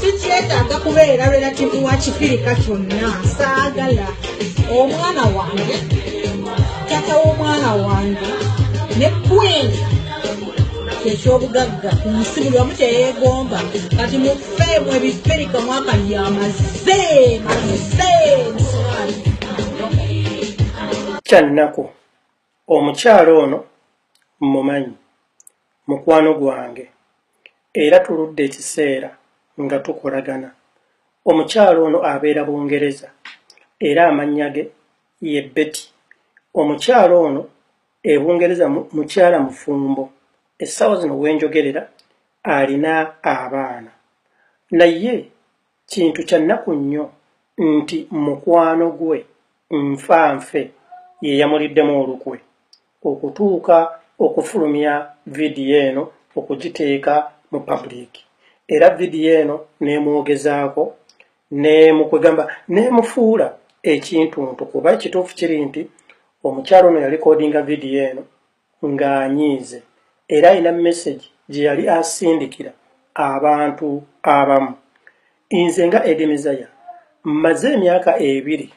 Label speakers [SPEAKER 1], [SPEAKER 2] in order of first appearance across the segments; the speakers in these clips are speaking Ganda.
[SPEAKER 1] sikyetaaga kubeera relativu wa kifirika kyonna saagala omwana wange tata w'omwana wange ne kwini ekyobugagga ku nsi buli wamu kyeyegomba kati mufeemu ebifirika mwaka yamaze maze
[SPEAKER 2] kyannaku omukyalo ono mumanyi mukwano gwange era tuludde ekiseera nga tukolagana omukyalo ono abeera bungereza era amannya ge ye beti omukyalo ono e bungereza mukyala mufumbo essaawa zino wenjogerera alina abaana naye kintu kyannaku nnyo nti mukwano gwe nfa nfe yeyamuliddemu olukwe okutuuka okufulumya vidiyo eno okugiteeka mu public era vidiyo eno nemwogezaako nemukwegamba nemufuula ekintuntu kuba ekituufu kiri nti omukyalo ono yalikodinga vidiyo eno ng'anyiize era alina mesegi gye yali asindikira abantu abamu nze nga edimizaya mmaze emyaka ebiri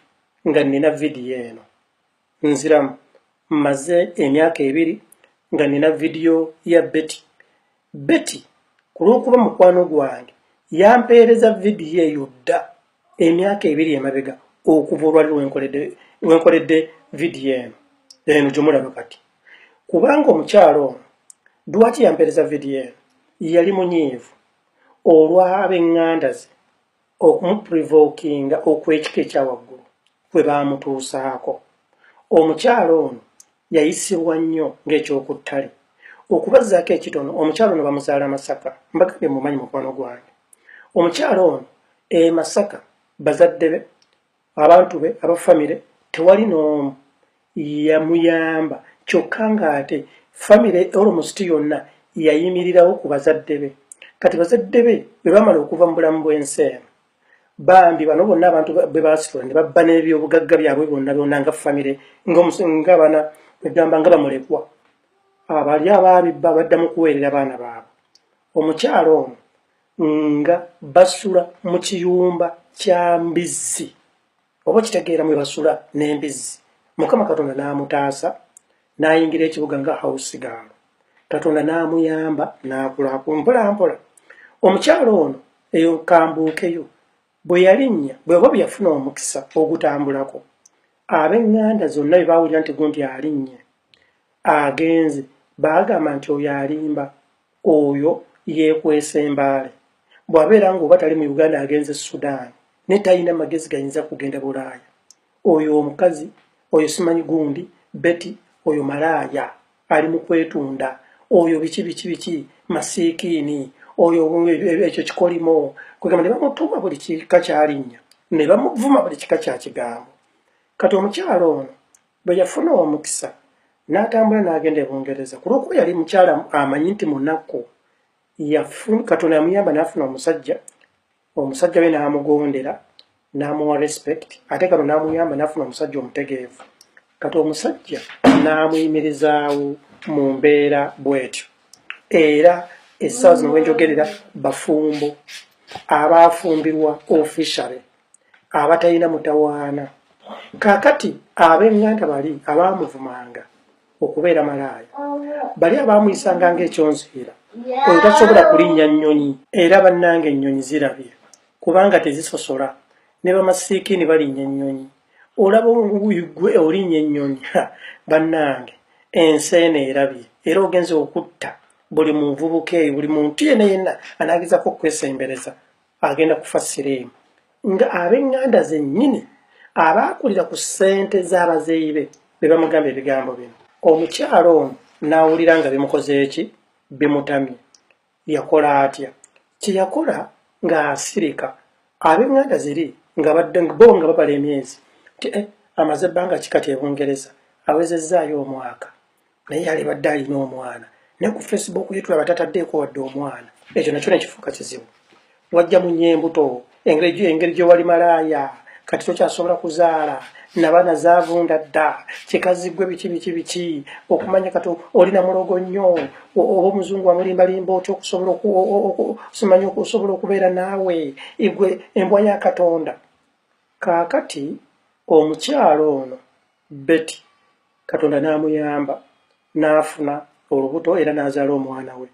[SPEAKER 2] nga nnina vidiyo eno nziramu mmaze emyaka ebiri nga nina vidiyo ya beti beti ku lw'okuba mukwano gwange yampeereza vidiyo eyo dda emyaka ebiri emabega okuva olwali lwenkoledde vidiyo eno eno gyemulaba kati kubanga omukyalo ono dwaki yampeereza vidiyo eno yali munyiivu olw'ab'eŋŋanda ze okumuprivokinga okw'ekika ekya waggulu kwe baamutuusaako. Omukyala ono yayisibwa nnyo ng'eky'oku ttale. Okubazzaako ekitono, omukyala ono bamuzaala Masaka. Mbagambye mmumanyi mukwano gwange. Omukyala ono e Masaka bazadde be Abantu be aba famire tewali n'omu yamuyamba kyokka ng'ate famire olomusiti yonna yayimirirawo ku bazadde be. Kati bazadde be bwe baamala okuva mu bulamu bw'ensi eno, bambi bano bonna abantu be baasitula ne babba n'ebyobugagga byabwe byonna byonna nga famire ng'abaana egamba nga bamulekwa abali abaabibba badda mu kuweerera baana baabwe. Omukyala ono nga basula mu kiyumba kya mbizzi oba kitegeera mwe basula n'embizzi mukama katonda n'amutaasa n'ayingira ekibuga nga hausi gaalo katonda n'amuyamba n'akulaaku mpolampola omukyalo ono eyo kambuukeyo bwe yalinnya bweba bwe yafuna omukisa ogutambulako ab'eŋŋanda zonna bye baawulira nti gundi alinnye agenze baagamba nti oyo alimba Oyo yekwese embaale bwabeera nga oba tali mu Uganda agenze Sudan ne talina magezi gayinza kugenda Bulaaya. Oyo omukazi oyo simanyi gundi Betty oyo malaaya ali mu kwetunda oyo biki biki biki masiikiini oyo ekyo kikolimo kwegamba ne bamutuma buli kika kyalinnya ne bamuvuma buli kika kya kigambo. Kati omukyala ono Bwe yafuna omukisa n'atambula n'agenda e Bungereza ku lw'okuba yali mukyala amanyi nti munaku, Katonda yamuyamba n'afuna omusajja, omusajja we n'amugondera n'amuwa respect ate kano n'amuyamba n'afuna omusajja omutegeevu. Kati omusajja n'amuyimirizaawo mu mbeera bw'etyo era essaawa zino we njogerera bafumbo abaafumbirwa officially. abatalina mutawaana. Kaakati, ab'eŋŋanda bali abaamuvumanga okubeera malaaya, bali abaamuyisanga nga ekyonziira, oyo tasobola kulinnya nnyonyi. Era, bannange, ennyonyi zirabye, kubanga tezisosola. Ne bamasiikiini balinnya ennyonyi. Olaba, ggwe olinnya ennyonyi! Ha, bannange! Ensi eno erabye, era ogenze okutta buli muvubuka eyo, buli muntu yenna yenna anaagezaako okukwesembereza. agenda kufa siriimu nga ab'eŋŋanda zennyini abaakulira ku ssente z'abazeeyi be be bamugamba ebigambo bino omukyala ono n'awulira nga bimukozeeki bimutamye yakola atya kye yakola ng'asirika ab'eŋŋanda ziri nga badde bo nga babala emyezi nti eh, amaze ebbanga ki kati e bungereza awezezzaayo omwaka naye yalibadde alina omwana naye ku facebook ye tulaba tataddeeko wadde omwana ekyo nakyo nekifuuka kizibu wajja mu nyembuto engeri gyewali malaaya kati tokyasobola kuzaala nabaana zavunda dda kikaziggwe biki biki biki okumanya kati olina mulogo nnyo oba omuzungu wamulimbalimba otya okusobola simanya okusobola okubeera naawe igwe embwa ya katonda kaakati omukyalo ono beti Katonda n'amuyamba n'afuna olubuto era n'azaala omwana we.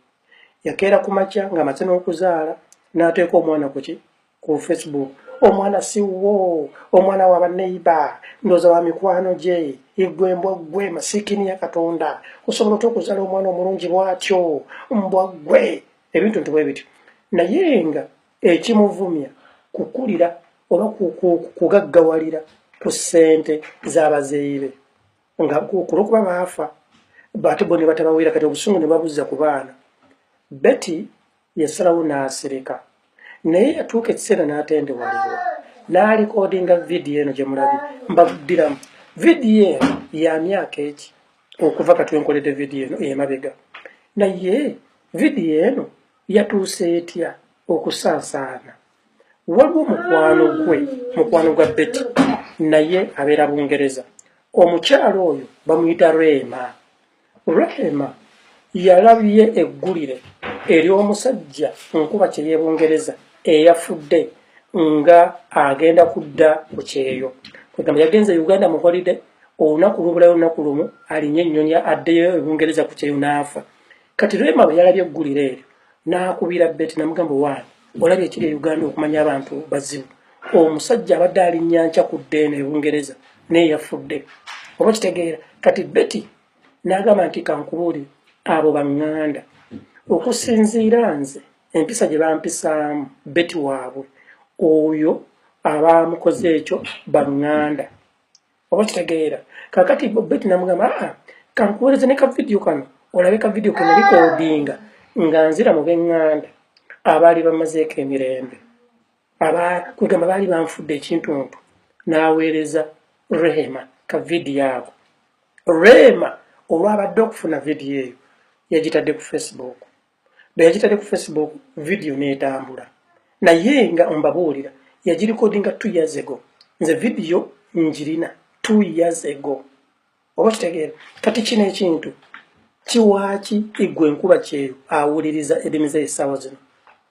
[SPEAKER 2] Yakeera ku makya ng'amaze n'okuzaala n'ateeka omwana ku ki ku Facebook. Omwana si wo, omwana wa baneiba, ndooza wa mikwano gye, igwe mbwa ggwe masiikini ya Katonda, osobola otya okuzaala omwana omulungi bw'atyo, mbwa ggwe, ebintu nti bwe bityo. Naye nga ekimuvumya kukulira oba kugaggawalira ku ssente z'abazeeyi be nga kulwokuba baafa ate bo ne batabawera kati obusungu ne babuzza ku baana betty yasalawo n'asirika naye yatuuka ekiseera n'atendewalirwa n'alikodinga vidiyo eno gye mulabi mbaddiramu vidiyo eno ya myaka eki okuva katwenkoledde vidiyo eno emabega naye vidiyo eno yatuuse etya okusaasaana waliwo mukwano gwe mukwano gwa beti naye abeera bungereza omukyalo oyo bamuyita rehema rehema yalabye eggulire ery'omusajja nkuba kyeyebungereza eyafudde nga agenda kudda ku kyeyo kwegamba yagenze uganda mu holide olunaku lubulayo olunaku lumu alinye ennyonyi addeyo ebungereza ku kyeyo naafa kati rema bwe yalabye eggulire eryo n'akubira beti namugamba waani olabye ekiri e uganda okumanya abantu bazibu omusajja abadde alinnya nkya ku ddeeno e bungereza naye yafudde oba kitegeera kati beti n'agamba nti kankubuuli abo baŋŋanda okusinziira nze empisa gye bampisaamu beti waabwe oyo abaamukoze ekyo baŋŋanda oba kitegeera kakati bobet namugamba aa ah, kankuwereze ne kavidiyo kano olabe kavidiyo kano likodinga nga nzira mu benganda abaali bamazeeko emirembe kwegamba baali banfudde ekintuntu n'aweereza rehema ka vidiyo ako rehema olwabadde okufuna vidiyo eyo yagitadde ku facebook beyagitadde ku facebook video netambula naye nga mbabuulira yagirikodinga two years ago nze video njirina two years ago oba kitegeera kati kino ekintu kiwaaki igwe nkuba kyeyo awuliriza edimi ze esaawa zino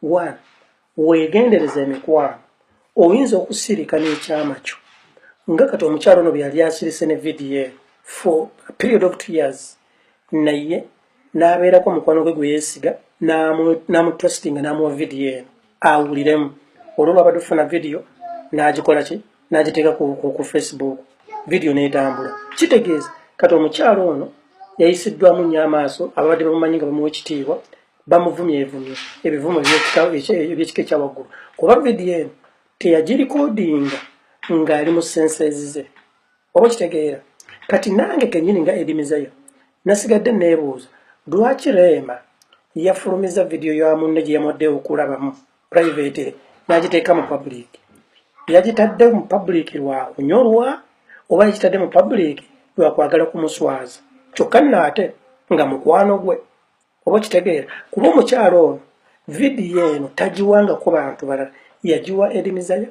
[SPEAKER 2] one wegendereza emikwano oyinza okusirika n'ekyama kyo nga kati omukyalo ono byeyali asirise ne vidiyo eno for a period of two years naye n'abeerako omukwano gwe gwe yeesiga n'amutrustinga n'amuwa vidiyo eno awuliremu olwo lwabadde ofuna vidiyo n'agikola ki n'agiteeka ku facebook vidiyo n'etambula kitegeeza kati omukyalo ono yayisiddwamu nnyo amaaso ababadde bamumanyi nga bamuwa ekitiibwa bamuvumye evumye ebivumo ebyekika ekyawaggulu kuba vidiyo eno teyagirikodinga ng'ali mu senses ze oba okitegeera kati nange kenyini nga edimizayo nasigadde neebuuza lwaki reema yafulumiza vidiyo ya munne gye yamwadde okulabamu private n'agiteeka mu public yagitadde mu public lwa kunyolwa oba yagitadde mu public lwa kwagala kumuswaza kyokka nno ate nga mukwano gwe oba okitegeera kuba omukyalo ono vidiyo eno tagiwanga ku bantu balala yagiwa edimizayo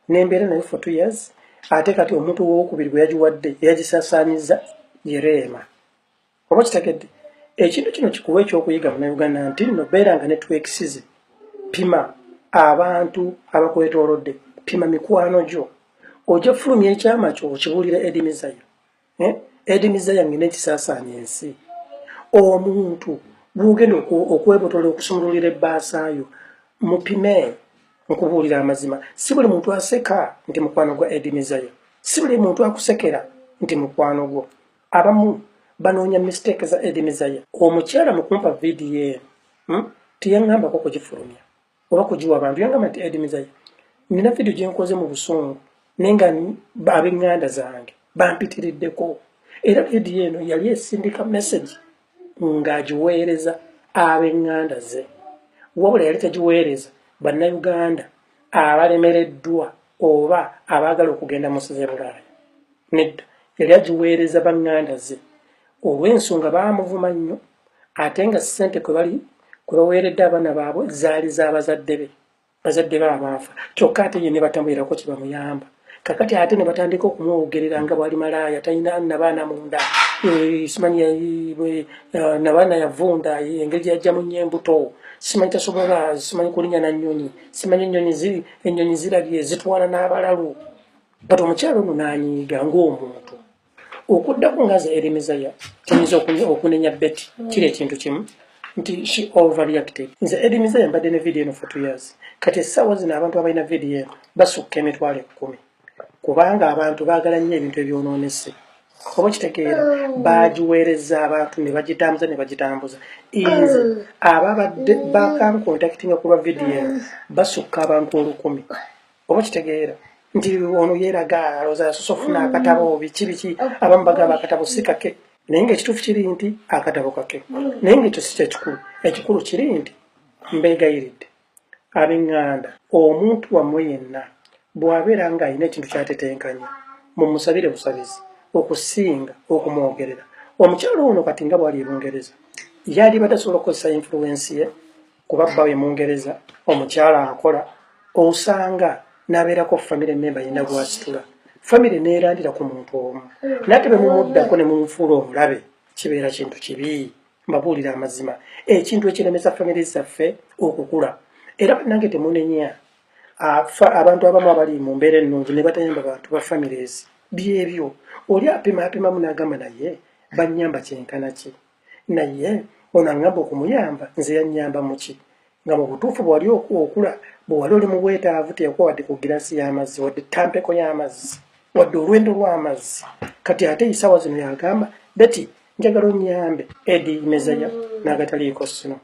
[SPEAKER 2] nembeera nayo for two years ate kati omuntu wowokubiri gwe yagiwadde eyagisasanyiza yereema oba okitegedde ekintu kino kikuwa ekyokuyiga munauganda nti no beera nga netwekisize pima abantu abakwetolodde pima mikwano gyo ojja fulumya ekyama kyo okibuulira edimizayo eh? edini zayange nekisasanya ensi omuntu gwogenda okwebotola okusumululira ebbaasayo mupime nkubuulira amazima si buli muntu aseka nti mukwano gwa edini zayo si buli muntu akusekera nti mukwano gwo abamu banoonya mistake za edini zayo omukyala mukumpa vidiyo eno hmm? teyaŋambako kugifulumya oba kugiwa abantu yangamba nti edi mizayi nina vidiyo gyenkoze mu busungu naye nga abenganda zange bampitiriddeko era vidiyo eno yali esindika mesagi ng'agiweereza abenganda ze wabula yali tagiweereza bannayuganda abalemereddwa oba abaagala okugenda mu size bulaaya nedda yali agiweereza banganda ze olw'ensonga baamuvuma nnyo ate nga ssente kwe bali kwe baweeredde abaana baabwe zaali za bazadde be bazadde be abaafa kyokka ate ye ne batamuwerako kye bamuyamba kakati ate ne batandika okumwogerera nga bwali malaaya talina nabaana munda eh, simanyi eh, nabaana yavunda eh, engeri gyeyajjamu nnyo embuto simanyi tasobola simanyi kulinya na nnyonyi simanyi ennyonyi ziri ennyonyi zirabye zitwala n'abalalu bat omukyalo ono nanyiiga ng'omuntu okuddako nga ze erimizaya tuyinza okunenya beti mm. kiri ekintu kimu nti she overreacted nze erimizaya mbadde ne vidiyo eno for two years kati essaawa zino abantu abalina vidiyo eno basukka emitwalo ekkumi kubanga abantu baagala nnyo ebintu ebyonoonese oba kitegeera mm. bagiweereza abantu ne bagitambuza ne bagitambuza nze mm. ababadde bakankontakitinga kulwa vidiyo eno basukka abantu olukumi oba kitegeera nti ono yeeraga alowooza yasoosa okufuna akatabo mm. biki biki abamu bagamba akatabo si kake naye ngaekituufu kiri nti akatabo kake mm. naye ngaekyo si kyekikulu ekikulu kiri nti mbeegayiridde abenganda omuntu wammwe yenna bw'abeera ng'alina ekintu kyatetenkanya mumusabire busabizi okusinga okumwogerera omukyalo ono kati nga bwali ebungereza yalibadde asobola okukozesa influensi ye kuba bba we mungereza omukyala akola osanga nabeerako famire memba yina gwasitula famire neerandira ku muntu omu nate bemumuddako ne mumufuula omulabe kibeera kintu kibi mbabuulira amazima ekintu ekiremesa famire zaffe okukula era banange temunenya abantu abamu abali mu mbeera ennungi ne batayamba bantu ba famires byebyo oli apima apimamu n'agamba naye bannyamba kyenkana ki naye ono aŋŋamba okumuyamba nze yannyamba mu ki nga mu butuufu bwe wali okula bwe wali oli mu bwetaavu teyakuwa wadde ku giraasi y'amazzi wadde ttampeko y'amazzi wadde olwendo lw'amazzi kati ate isaawa zino yagamba beti njagala onnyambe edi mezaya n'agataliiko sino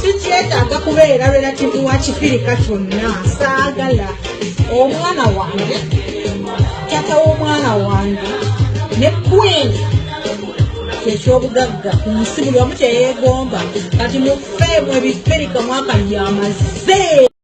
[SPEAKER 1] sikyetaaga kubeera relativu wa kifirika kyonna saagala omwana wange tata w'omwana wange ne kwini kyekyobugagga ku nsi buli omu kyeyegomba kati mufeemu ebifirika mwaka lyamaze